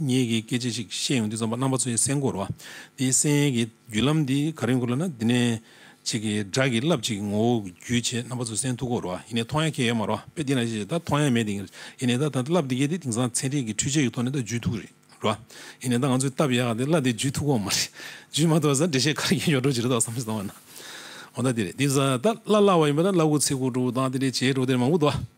ངེད་ཀྱིས་སྐད་ཆ་ཞིག་བཤད་ཡོང་དུས་རྩོམ་པ་རྣམ་པ་ཚོའི་སེམས་ཁོར་བ་དེའི་གསན་ཡས་ཀྱི་བརྒྱུད་ལམ་འདི་ག་རེ་འགོར་ལ་ན་འདི་ནས་ཅིག་གི་སྒྲ་གི་རླབས་ཅིག་ངོ་བོ་བརྒྱུད་བྱས་རྣམ་པ་ཚོའི་སེམས་ཐུགས་ཁོར་བ་ཡིན་ནའི་མཐོང་ཡ་ཁྱད་ཡོད་མ་རོ་དཔེ་དེ་ན་ཞེས་བྱས་ད་མཐོང་ཡ་མེད་དེ་ཡིན་ནའི་ད་ད་རླབས་འདི་གས་དེ་དེང་སང་ཚན་རིག་གི་འཕྲུལ་ཆས་ཀྱི་ཐོག་ནས་ད་བརྒྱུད་ཐུགས་རེད་རོ། ཡིན་ནའི་ད་ང་ཚོས་བཏབ་ཡ་ག་དེ་རླབས་དེ་བརྒྱུད་ཐུགས་ཁོ་མ་རེད། བརྒྱུད་མ་ཐུབ་པ་ཟ་འདྲེ་ཤེས་ག་རེ་ཡོད་ཡོད་འགྲོ་ཅི་རེད་ད་བསམ་བཞིན་སོང་བ་ན། འོ་ད་དེ་རེད་དེ་ཟ་ད་བླ་བླ་བ་ཡིན་པ་ད་བླ་གུ་ཚེ་གུ་འགྲོ་བོ་དང་དེ་རེད་བྱེས་འགྲོ་བོ་དེ་རེད་མང་པོ་འདུག་བ།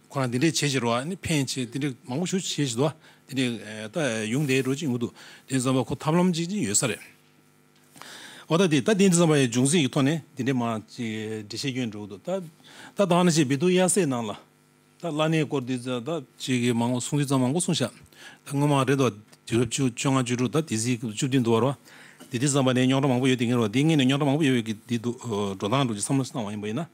ཁོ་རང་འདི་འདྲས་བྱེད་བྱེད་རོ་ཨ་ནི་ཕན་ཆེ་འདི་འདྲས་མང་པོ་ཞུ་བྱེད་བྱེད་དོ་འདི་འདྲས་ད་ཡུང་དེའི་འགྲོ་ཅིག་འུ་ཐུག་དེ་ཙམ་པ་ཁོ་ཐབས་ལམ་ཅིག་ཅིག་ཡོད་ས་རེད། འོ་ད་དེ་ད་དེ་ཙམ་པ་ཡི་འབྱུང་སྲིད་ཀྱི་ཐོག་ནས་འདི་འདྲས་མ་ཅིག་འདྲི་བྱེད་རྒྱུ་འགྲོ་འུ་ཐུག་ད་ད་ཐང་ན་ཅིག་བི་དུ་ཡ་སེ་ནང་ལ་ད་བླ་གནས་སྐོར་འདི་ད་ད་ཅིག་གི་མང་པོ་གསུང་དུས་ཙམ་མང་པོ་གསུང་བཞག་ད་སྔོན་མ་རེད་དོ་དུས་རབས་བཅུ་བཅོ་ལྔ་བཅུ་དྲུག་ད་དེ་སྲིད་བཅུ་བདུན་འདུག་བ་རོ་འདི་འདྲས་ཙམ་པ་ནས་རྙོག་དྲ་མང་པོ་ཡོད་དེ་ངེས་རོ་འདི་ངེས་ནས་རྙོག་དྲ་མང་པོ་ཡོད་ཀྱི་འདི་འདུག་འགྲོ་སྟངས་འགྲོ་ཅིག་བསམ་བློ་བཏང་བ་ཡིན་པ་ཡིན་ན།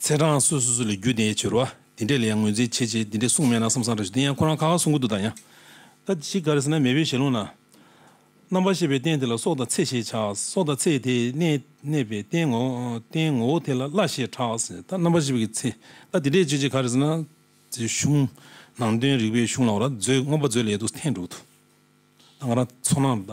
ཚེ་འབྲང་སུ་སུ་སུ་ལས་རྒྱུ་དེ་ཡས་བྱོལ་བ་དེ་འདྲས་ལས་ཡང་ངོས་འཛིན་བྱེད་ཅེས་དེ་འདྲས་གསུངས་མེད་ན་བསམ་བསམ་རེ་བྱོས་དེ་ཡང་ཁོ་རང་གང་ག་གསུང་གི་འདུག་ད་ཡང། ད་ཅིག་ག་རེ་ཟེར་ན་མེས་པོའི་ཞལ་ལུང་ན། རྣམ་པར་ཤེས་པའི་རྟེན་དེ་ལ་སྲོག་དང་ཚེ་ཞེས་བྱ། སྲོག་དང་ཚེ་དེ་ནས་གནས་པའི་རྟེན་ངོ། རྟེན་ངོ་བོ་དེ་ལ་བླ་ཞེས་གྲགས། ད་རྣམ་པར་ཤེས་པའི་ཚེ་ད་དེ་འདྲས་བྱོས་ཅིག་ག་རེ་ཟེར་ན། ཅེས་གཞུང། ནང་དོན་རིགས་པའི་གཞུང་ལ་འོ་ར་མཛོད་མངོན་པ་མཛོད་ལས་དུ་འཐེན་འགྲོ་གི་འདུག་ད་ང་རང་ཚོ་ནང་ད།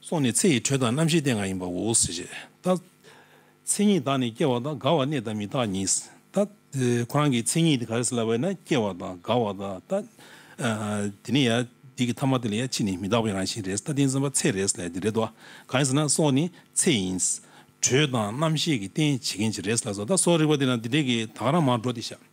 སོགས་ནི་ཚེ་ཡི་དྲོད་དང་རྣམ་ཤེས་ལྟས་འགའ་ཡིན་པའོ། ཏདྱ། མཚན་ཉིད་དག་ནི་སྐྱེ་བ་དང་རྒ་བ་གནས་དང་མི་རྟག་ཉིད། ཏདྱ། ཁོ་རང་གི་མཚན་ཉིད་དེ་ག་རེ་ཟེར་ལབ་པ་ཡིན་ན་སྐྱེ་བ་དང་རྒ་བ་དང། ཏདྱ། དེ་ནས་ཡང་དེ་གི་ཐ་མ་དེ་ལ་ཡང་ཕྱིས་ནི་མི་རྟག་པའི་རང་བཞིན་རེད། ཏདྱ་མཚན་མ་ཚེ་རེད། ལས་དེ་རེད་དོ། གང་ཡིན་ཟེར་ན་སོགས་ནི་ཚེ་ཡིན། དྲོད་དང་རྣམ་ཤེས་ཀྱི་རྟེན་བྱེད་མཁན་གྱི་རེད། ལ་སོགས་རིག་པ་དེ་ན་དེ་འདྲས་ཀྱི་དག་རང་མར་འགྲོ་སྟེ། ཤཱཀྱ།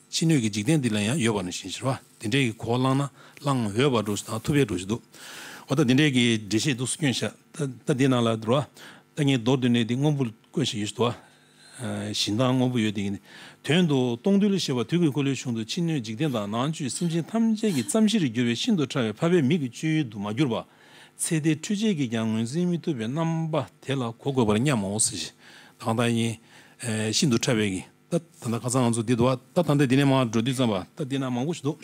ཕྱི་སྣོད་ཀྱི་འཇིག་རྟེན་འདི་ལ་ཡང་ཡོད་པ་ནང་བཞིན་གཞིར་བ་འདི་འདྲའི་གོ་བླངས་ན་བླང་འོས་པར་འགྲོ་ཞིག་དང་ཐུབ་པས་འགྲོ་བཞིན་འདུག་ད་འདི་འདྲའི་གི་འགྲེལ་བཤད་འདུག་སུ་སྐྱོན་བཤད་ད་འདི་ནང་ལ་འགྲོ་བ་ད་ངའི་མདོར་བསྡུས་ནས་འདི་དངོས་པོ་བཀོད་བཞིན་ཡོད་ཞིག་འདུག་བཞིན་མདངས་དངོས་པོ་ཡོད་དེ་ཡིན། དོན་དུ་སྟོང་རྡུལ་ཞེས་པ་དུས་ཀྱི་འཁོར་ལོའི་གཞུང་དུ་ཕྱི་སྣོད་འཇིག་རྟེན་དང་ནང་བཅུད་སེམས་ཅན་ཐམས་ཅད་ཀྱི་མཚམས་བཞིར་གྱུར་པའི་ཤིན་ཏུ་ཕྲ་བའི་འཕགས་པའི་མིག་གི་སྤྱོད་ཡུལ་དུ་མ་གྱུར་པ། ཚེ་འདིའི་འཕྲུལ་ཆས་ཀྱིས་ཀྱང་ངོས་འཛིན་མི་ཐུབ་པའི་རྣམ་པ་དེ་ལ་གོ་དགོས་པར་སྙམ་མོ། ཞེས་དང་དང་ཡིན། ཤིན་ཏུ་ཕྲ་བའི་གི། ད་ད་ད་ཁ་ཚ་ང་ཚོ་འདི་འདུག་ཨ་ད་ད་ལྟ་འདི་ནས་མང་འགྲོ་དུས་བརྩམས་པ་ད་འདི་ན་མང་པོ་ཞིག་འདུག་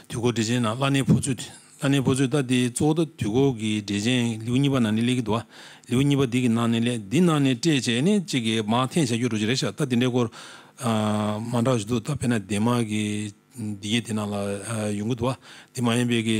དུས་འཁོར་འགྲེལ་ཆེན་ནང་བླ་ནའི་ཕོ་ཚུལ་བླ་ནའི་ཕོ་ཚུལ་ད་འདི་གཙོ་བོ་ད་དུས་འཁོར་གྱི་འགྲེལ་ཆེན་ལེའུ་གཉིས་པ་ནང་ནས་གླེགས་ཀྱི་འདུག་ཨ་ལེའུ་གཉིས་པ་འདི་གི་ནང་ནས་གླེགས་འདི་ནང་ནས་བཀྲལ་བྱས་ནས་གཅིག་གི་མང་འཐེན་བྱ་རྒྱུ་འགྲོ་རྒྱུ་རེད་ཤག་ད་འདི་འདྲའི་སྐོར་མང་དྲག་ཞིག་འདུག་ད་དཔེར་ན་སྡེ་དམངས་ཀྱི་འདི་གྱི་དེ་ནང་ལ་ཡོང་གི་འདུག་ཨ་འདི་མ་ཡིན་པའི་གི།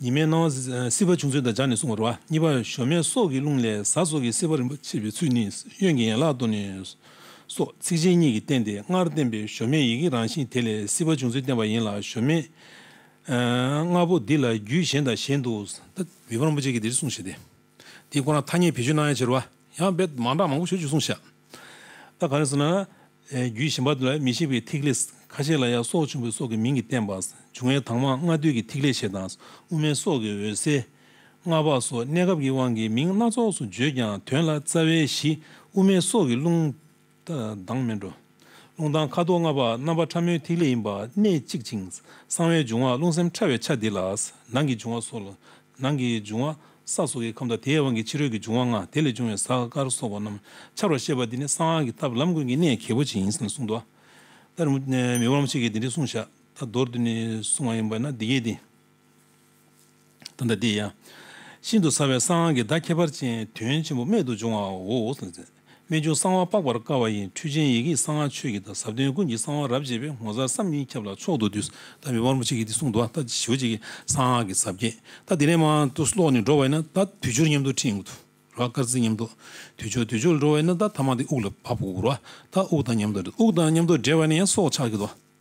ཉི་མའི་སྣང་བ་སྲིད་པ་བྱུང་ཚུལ་དང་སྦྱར་ནས་གསུངས་པར་བ་གཉིས་པ་ཞོ་མེད་སོགས་ཀྱི་རླུང་ལས་གཟའ་སོགས་ཀྱི་སྲིད་པ་རིམ་པར་མཆེད་པའི་ཚུལ་ནི་གཡོན་གྱི་ཡན་ལག་ཏུ་ནས་སོགས་ཚིགས་ཆེན་གཉིས་ཀྱིས་བསྟན་ཏེ་སྔར་བསྟན་པའི་ཞོ་མེད་ཡི་གེའི་རང་བཞིན་དེ་ལས་སྲིད་པ་བྱུང་ཚུལ་བསྟན་པ་ཡིན་ལ་ཞོ་མེད་ལྔ་པོ་འདི་ལ་རྒྱུད་གཞན་དང་གཞན་དུ་ཨ་ཏི་བི་ཕ་རིན་པོ་ཆེས་ཀྱིས་འདིར་གསུངས་ཞེས་ཏེ། དེ་ཁོ་ན་ཐ་སྙད་བེད་སྤྱོད་གནང་ཡ་ཆེར་བ། ཡང་བེད་མང་དྲག་མང་པོ་བྱོས་ཅིག་གསུངས་བཞག། ད་ག་རེ་ཟེར་ན། རྒྱུད་གཞན་པ་ལ་མི་ཤེས་པའི་ཐིག་ལེ། ཁ་ཤས་ལ་ཡང་སྲོག་ཆེན་པོའི་སྲོག་གི་མིང་གིས་བསྟན་པ། འབྱུང་བའི་དྭངས་མ་ལྔ་བསྡུས་ཀྱི་ཐིག་ལེ་ཞེས་དང། དབུ་མའི་སྲོག་གི་འོད་གསལ། མངའ་བག་སོགས་གནས་སྐབས་ཀྱི་དབང་གིས་མིང་སྣ་ཚོགས་སུ་བརྗོད་ཀྱང་དོན་ལ་རྩ་བའི་གཞི་དབུ་མའི་སྲོག་གི་རླུང། སྡང་མི་འགྲོ། རླུང་དང་ཁ་དོག་ལྔ་པ་རྣམ་པ་ཕྲ་མོའི་ཐིག་ལེ་ཡིན་པ་གནད་གཅིག་ཅིང་གསང་བའི་འབྱུང་བ་རླུང་སེམས་ཕྲ་བའི་ཆ་འདི་ལ་ནང་གི་འབྱུང་བ་སོགས་ལ་ནང་གི་འབྱུང་བ་ས་སོགས་ཀྱི་ཁམས་དང་དེའི་དབང་གིས་ཕྱི་རོལ་གྱི་འབྱུང་བ་ལྔ་དེ་ལས་བྱུང་བའི་ས་དཀར་སོགས་པ་རྣམས་འཆར་བར་བཤད་པ་འདི་ནི་གསང་སྔགས་ཀྱི་ཐབས་ལམ་ཀུན་གྱི་གནད་གལ་པོ་ཆེ་ཡིན་ཞེས་གསུངས། དོ། ལྟར་མི་བར་མ་ཆད་ཀྱིས་འདི་འདྲའི་གསུང་བཤད་ད་མདོར་བསྡུས་ནས་གསུངས་བ་ཡིན་པས་ན་འདི་སྐད་དེ། ད་ལྟ་འདི་ཡང། ཤིན་ཏུ་ཟབ་བའི་གསང་གི་བརྡ་ཁྱད་པར་ཅན་དོན་ཆེན་པོ་རྨད་དུ་བྱུང་བའོ། རྨད་བྱུང་གསང་བ་དཔག་པར་དཀའ་བ་ཡི་འཕྲུལ་ཆེན་ཡི་གེའི་གསང་བ་ཆོས་ཀྱི་བརྡ་ཟབ་དོན་ཀུན་གྱི་གསང་བ་རབ་འབྱེད་པའི་ངོ་མཚར་བསམ་གྱིས་མི་ཁྱབ་ལ་མཆོག་ཏུ་འདུད། ད་མི་དམར་མོ་ཆེ་གེ་འདི་གསུང་དུ་ད་ཞོལ་ཅིག་གསང་གི་ཟབ་རྒྱས་ད་འདི་ལས་མ་དུ་ཀློག་ནས་འགྲོ་བས་ན་ད་དུས་སྦྱོར་ཉམས་རྟོགས་ཁྲིད་འུག་དུ་ར་དཀར་རྩི་ཉམས་རྟོགས་དུས་སྦྱོར་དུས་སྦྱོར་ལ་འགྲོ་བས་ན་ད་ཐ་མ་འདི་དབུགས་ལ་བབ་འུག་ར་ད་དབུགས་དང་ཉམས་རྟོགས་འུག་དང་ཉམས་རྟོགས་འདྲེས་པ་ནི་ཡང་སྲོག་ཆགས་ཀྱི་རྡོ།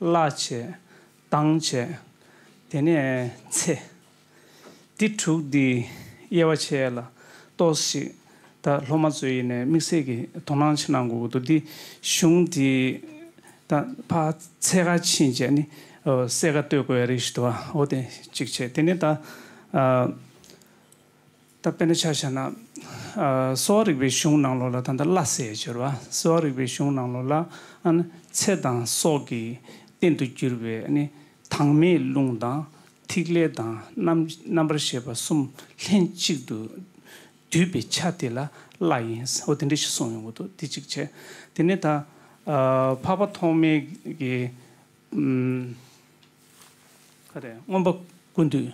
བརླ་བྱས། གཏང་བྱས། དེ་ནས་ཚེ་འདི་དྲུག་འདི་དབྱེ་བ་ཕྱེ་ལ་ལྟོས་ཤིག། ད་སློབ་མ་ཚོས་ཡེ་ནས་དམིགས་བསལ་གྱི་དོ་སྣང་ཆེ་གནང་དགོས་ཀྱི་འདུག་འདི་གཞུང་འདི་ད་ཕ་ཚེ་ཁ་ཕྱིན་རྗེས་ནི་གསལ་ཁ་གཏོད་དགོས་ཡ་རིགས་ཞིག་འདུག་ཨ་འོ་དེ་གཅིག་བྱས་དེ་ནས་ད། ད་དཔེར་ན་ཆ་བཞག་ན། གསོ་བ་རིག་པའི་གཞུང་ནང་ལོགས་ལ་ད་ལྟ་བླ་ཟེར་སྦྱོར་བ་གསོ་བ་རིག་པའི་གཞུང་ནང་ལོགས་ལ་ཨཱ་ཚེ་དང་སྲོག་གི་རྟེན་དུ་གྱུར་པའི་ཨཱ་དྭངས་མའི་རླུང་དང་ཐིག་ལེ་དང་རྣམ་པར་ཤེས་པ་གསུམ་ལྷན་གཅིག་ཏུ་འདུས་པའི་ཆ་དེ་ལ་བླ་ཡིན་ཨོ་དེ་འདྲ་ཞིག་གསུངས་ཡོང་གི་འདུག་དེ་གཅིག་བྱས། དེ་ནས་ད་འཕགས་པ་ཐོགས་མེད་ཀྱི། ཁ་རས་རྔོན་པ་ཀུན་འདུས།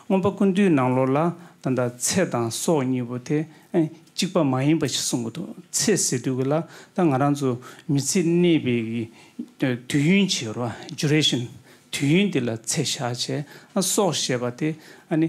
རྔོན་པ་ཀུན་འདུས་ནང་ལོགས་ལ་ད་ལྟ་ཚེ་དང་སྲོག་གཉིས་པོ་དེ་གཅིག་པ་མ་ཡིན་པ་ཞིག་གསུངས་ཀྱི་འདུག་ཚེ་ཟེར་དུས་ཀྱི་ལ་ད་ང་རང་ཚོ་མི་ཚེ་གནས་པའི་དུས་ཡུན་བྱེད་རོ། Duration། དུས་ཡུན་དེ་ལ་ཚེ་བཞག་བྱས། སྲོག་ཞེས་པ་དེ་ཨ་ནི།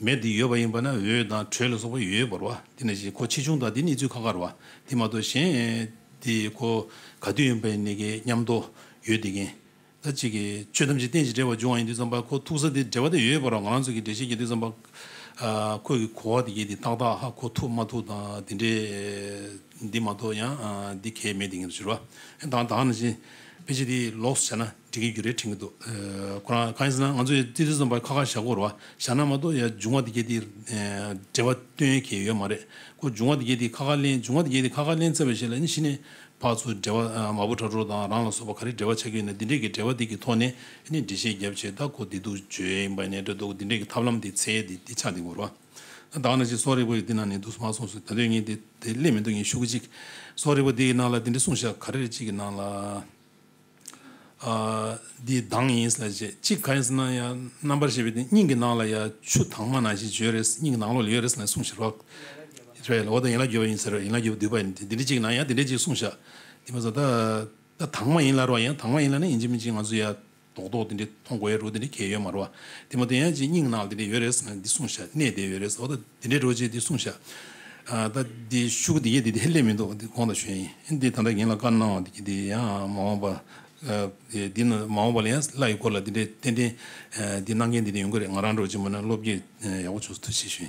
མེད་དེ་ཡོད་པ་ཡིན་པ་ན་འོད་དང་དྲོད་ལ་སོགས་པ་ཡོད་པར་བ་དེ་ནས་བཞིན་གོ་ཆེ་ཆུང་དག་དེ་ནི་ཚུལ་ཁ་ཁར་བ་དེ་མ་གཏོགས་གཞན་དེ་གོ་ག་དུས་ཡིན་པ་ནི་གི་མཉམ་དུ་ཡོད་དེ་གིན། ད་ཅིག་གི་ཆོས་ཐམས་ཅད་རྟེན་ཅིང་འབྲེལ་བར་འབྱུང་བ་ཡིན་དུས་ཙམ་པ་གོ་ཐུག་ས་དེ་འབྲེལ་བ་དེ་ཡོད་པར་བ་ང་རང་ཚོ་གི་འབྲེལ་བྱེད་ཀྱི་དུས་ཙམ་པ་ཁོས་གི་གོ་བ་དེ་གྱིས་དེ་ཏག་ཏག་ཧ་གོ་ཐུག་མ་ཐུག་དང་དེ་འདྲའི་འདི་མ་གཏོགས་ཡང་འདི་གལ་མེད་དེ་གིན་དུ་གྱུར་བ། ད་ད་ནི་བཞིན་དཔེ་ཆ་དེ་ལོགས་སུ་བྱས་ན། འགྲིག་གི་རྒྱུ་རེ་དྲན་གི་འདུག་ཁོ་རང་གང་ཡིན་ཟེར་ན་ང་ཚོས་ཙི་ཙི་འཛོམས་པ་ཁ་ཁར་བཞག་དགོས་རེད་བ། བཞག་ན་མ་གཏོགས་ཡ་འབྱུང་བ་འདི་རྒྱ་དེ་འབྲེལ་བ་སྟོན་ཡོད་མཁན་ཡོད་མ་རེད་ཁོ་འབྱུང་བ་འདི་རྒྱ་དེ་ཁ་ཁར་གླེང་འབྱུང་བ་འདི་རྒྱ་དེ་ཁ་ཁར་གླེང་ཚར་བའི་ཞེ་ལ་ནི་གཞི་ནས་ཕག་ཚོ་འབྲེལ་བ་མ་བུ་གྲ་གྲོགས་དང་རང་ལ་སོགས་པ་ག་རེ་འབྲེལ་བ་ཆགས་ཀྱི་ཡོད་ན་འདི་འདྲས་ཀྱི་འབྲེལ་བ་འདི་གི་ཐོག་ནས་ནི་འགྲེལ་བཤད་རྒྱབ་ཆེད་ད་ཁོ་འདི་སྡུག་བརྗོད་ཡིན་པ་ནས་འདྲ་འདུག་འདི་འདྲས་ཀྱི་ཐབས་ལམ་དེ་ཚད་དེ་འདི་ཆགས་འདི་དགོས་རེད་བ། ད་ག་ནང་བཞིན་སོག་རིག་པ་ཡི་འདི་ནང་ནས་འདུག་སོང་མ་སོང་སོང་ད་དོན་ངས་དེ་དེ་གླེང་མི་འདུག་ངས་ཤུ་གུ་གཅིག་སོག་རིག་པ་འདི་ཡི་ནང་ལ་འདི་འདྲས་གསུངས་བཞག་ག་རེ་རེ་གཅིག་གི་ནང་ལ། འདི་གདངས་ཡིན་ཟེར་རྗེས་གཅིག་ག་ཡིན་ཟེར་ན་ཡང་རྣམ་པར་ཤེས་པའི་དེ་སྙིང་གི་ནང་ལ་ཡང་ཆུ་དྭངས་མ་ནང་ཞིག་བྱོས་རེད་སྙིང་གི་ནང་ལོགས་ལ་ཡོད་རེད་ཟེར་ནས་གསུངས་ཤིག་རོགས། དཔེ་ལ་འོ་ད་ཡན་ལག་བརྒྱད་པ་ཡིན་ཟེར་ཡན་ལག་བརྒྱད་པོ་བསྡུས་པ་ཡིན་དེ་འདི་འདྲ་གཅིག་ན་ཡང་འདི་འདྲ་གཅིག་གསུངས་ཤག་དེ་མ་ཟད་ད་ད་དྭངས་མ་ཡིན་ལ་རོགས་ཡང་དྭངས་མ་ཡིན་ལ་ནི་ཡིན་གཅིག་མིན་གཅིག་ང་ཚོ་ཡང་རྡོག་རྡོག་དེ་འདྲའི་མཐོང་དགོས་རོ་དེ་འདྲའི་གལ་ཡོད་མ་རོ། དེ་མ་ཏོ་ཡན་ཅིག་སྙིང་ནང་ལ་དེ་འདྲའི་ཡོད་རེད་ཟེར་ན་འདི་གསུངས་བཞག་གནས་དེ་ཡོད་རེད་ཟེར་ན་དེ་འདྲའི་རོ་ཅིག་འདི་གསུངས་བཞག་ད་འདི་ཤུགས་འདི་ཡེ་འདི་དེ་སླེབས་མི་འདུག་འདི་གོང་དང་ཞོན་ཡིན་འདི་ད་ལྟ་ངེད་ལ་བཀའ་གནང་བ་འདི་ཡང་མ་འོངས་པ་འདི་ན་མ་འོངས་པ་ལ་ཡང་བླ་ཡི་སྐོར་ལ་འདི་འདྲའི་ཏན་ཏན་འདི་གནང་མཁན་འདི་འདྲ་ཡོང་གི་རེད་ང་རང་རོ་ཅིག་མ་ན་བློ་བསྐྱེད་ཡག་པོ་བྱུང་སོང་ཐུགས་ཆེ་ཞུ།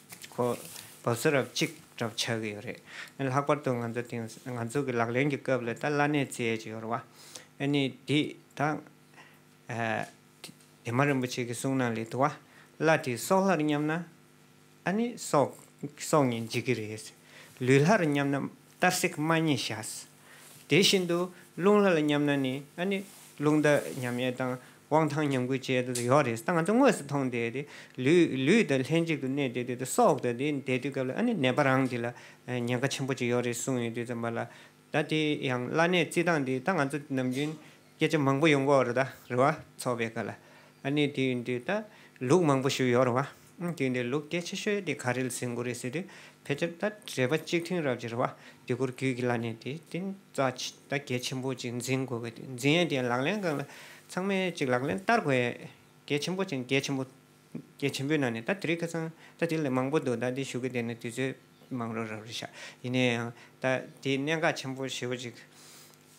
ཁོ་བོ་ཚོ་རབ་གཅིག་གྲབས་ཆགས་ཀྱི་ཡོད་རེད། ལྷག་པར་དུ་ང་ཚོ་དེང་སང་ང་ཚོ་གི་ལག་ལེན་གྱི་སྐབས་ལ་ད་བླ་གནས་བརྩི་ཡས་ཀྱི་ཡོད་རེད་བ། ཨེ་ནི་འདི་དང། དེ་མ་རིན་པོ་ཆེ་གི་གསུང་ནང་ལས་དུ་བ་བླ་དེ་སྲོག་ལྷར་མཉམ་ན། ཨ་ནི་སྲོག་སྲོག་ཉིད་འཇིག་གི་རེད། ལུས་ལྷར་མཉམ་ན་གཏར་སྲེག་མ་ཉེས་བྱ། དེ་བཞིན་དུ་རླུང་ལྷ་ལ་མཉམ་ན་ནི་ཨ་ནི་རླུང་རྟ་མཉམ་ཡེ་དང་དབང་ཐང་མཉམ་ཀུན་བཅས་དུ་ཡོག་རེད་ད་ང་ཚོ་དངོས་སུ་མཐོང་དེ་དེ་ལུས་དང་ལྷན་ཅིག་ཏུ་གནས་དེ་དེ་དུ་སྲོག་དང་དེ་འདས་དུས་སྐབས་ལ་ཨ་ནི་ནད་པ་རང་དེ་ལ་ཉེན་ཁ་ཆེན་པོ་ཅིག་ཡོག་རེད་གསུངས་ཡོད་དུས་ཙམ་པ་ལ་ད་དེ་ཡང་བླ་གནས་རྩིས་སྟངས་དེ་ད་ང་ཚོ་ནམ་རྒྱུན། སྐད་ཆ་མང་པོ་ཡོང་གོ་རུ་ད་རི་བ་ཚོགས་པའི་སྐ་ལ་ཨ་ནི་དུས་འདི་ད་ལུག་མང་པོ་ཞུ་ཡོག་རུ་བ་དུས་འདི་ལུག་སྐད་ཆ་ཤོད་དེ་ག་རིལ་ཟིན་གོ་རི་སི་དུས་ཕལ་ཆེར་ད་རེ་བ་གཅིག་ཐུན་རབ་ཀྱི་རི་བ་དུས་གུར་གུས་ཀྱི་ལ་ནས་དེ་དེ་ཙ་ཆི་ད་གད་ཆེན་པོ་གཅིག་འཛིན་གོ་གི་དུས་འཛིན་ཡས་དེ་ལག་ལེན་གང་ལ་ཚང་མས་གཅིག་ལག་ལེན་བསྟར་གོ་ཡས་གད་ཆེན་པོ་གཅིག་གད་ཆེན་པོ་གད་ཆེན་པོའི་ནང་ནས་ད་དེ་རིགས་ཁ་ཚང་ད་དེ་ལས་མང་པོ་འདུག་ད་དེ་ཞུ་གི་དེ་ནི་དུས་ཚོད་མང་རུ་རབ་རི་ཤག་ཡིན་ནའི་ཡང་ད་དེ་གནད་འགག་ཆེན་པོ་ཞེ་བོ་གཅིག།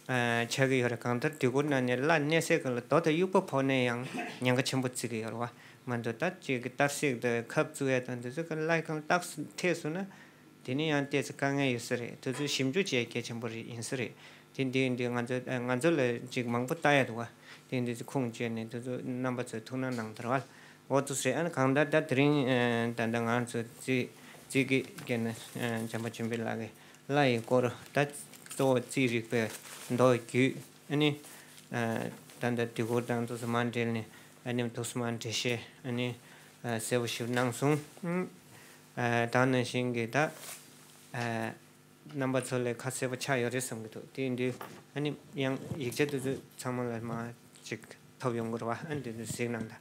བྱ་གི་ཡོད་རེད་གང་ལྟར་དུས་འཁོར་ནང་ནས་སླར་གནས་སའི་ག་ལ་དོག་དང་དབྱུག་པ་ཕོག་ནས་ཡང་ཉེན་ཁ་ཆེན་པོ་བརྩི་གི་ཡོད་རེད་བ་མ་འདུག་ད་ཅིག་གི་ལྟར་སྲེག་དང་ཁབ་བཙུགས་ཡས་དང་དེ་ཚོ་ག་ལ་གང་བཏགས་སུ་ཐེགས་སོང་ན་དེ་ནི་ཡང་བལྟས་ཚེ་དཀའ་ངལ་ཡོད་ས་རེད་དེ་ཚོ་ཞིབ་འཇུག་བྱས་ཡས་གལ་ཆེན་པོ་རེད་ཡིན་ས་རེད་དེ་འདི་འདི་ང་ཚོ་ང་ཚོ་ལ་ཅིག་མང་པོ་བལྟ་ཡས་འདུག་བ་དེ་འདི་ཚོ་ཁུངས་བཅོལ་ནས་དེ་ཚོ་རྣམ་པ་ཚོའི་ཐུགས་སྣང་གནང་དར་བ་ལ་འོ་དོ་ཟེར་ཨ་གང་ལྟར་ད་དེ་རིང་ད་ལྟ་ང་ཚོ་བརྩི་བརྩི་གི་གནས་ན་བྱམས་པ་ཆེན་པོའི་ལག་གི་བླ་ཡི་སྐོར་བརྡ་གཙོ་བོ་རྩིས་རིག་པའི་མདོ་རྒྱུད་ནི། ད་ལྟ་དུས་འཁོར་དང་ཐུགས་སུ་མ་འབྲེལ་ནས་ནི་ཐུགས་སུ་མ་འབྲེལ་ཞེས་ནི་གསལ་པོ་ཞིག་སྣང་གསུང། དང་ནང་བཞིན་གྱི་བརྡ་རྣམ་པ་ཚོ་ལས་ཁ་གསལ་པོ་ཆགས་ཡོད་རེད་བསམ་གྱི་འདུག་དེ་དུས་ཡང་ཡིག་ཆ་དེ་ཚོ་ཚང་མ་ལ་མ་ཅིག་ཐོབ་ཡོང་དགོས་རེད་བ་འདི་ཚོ་གཟིགས་གནང་དང།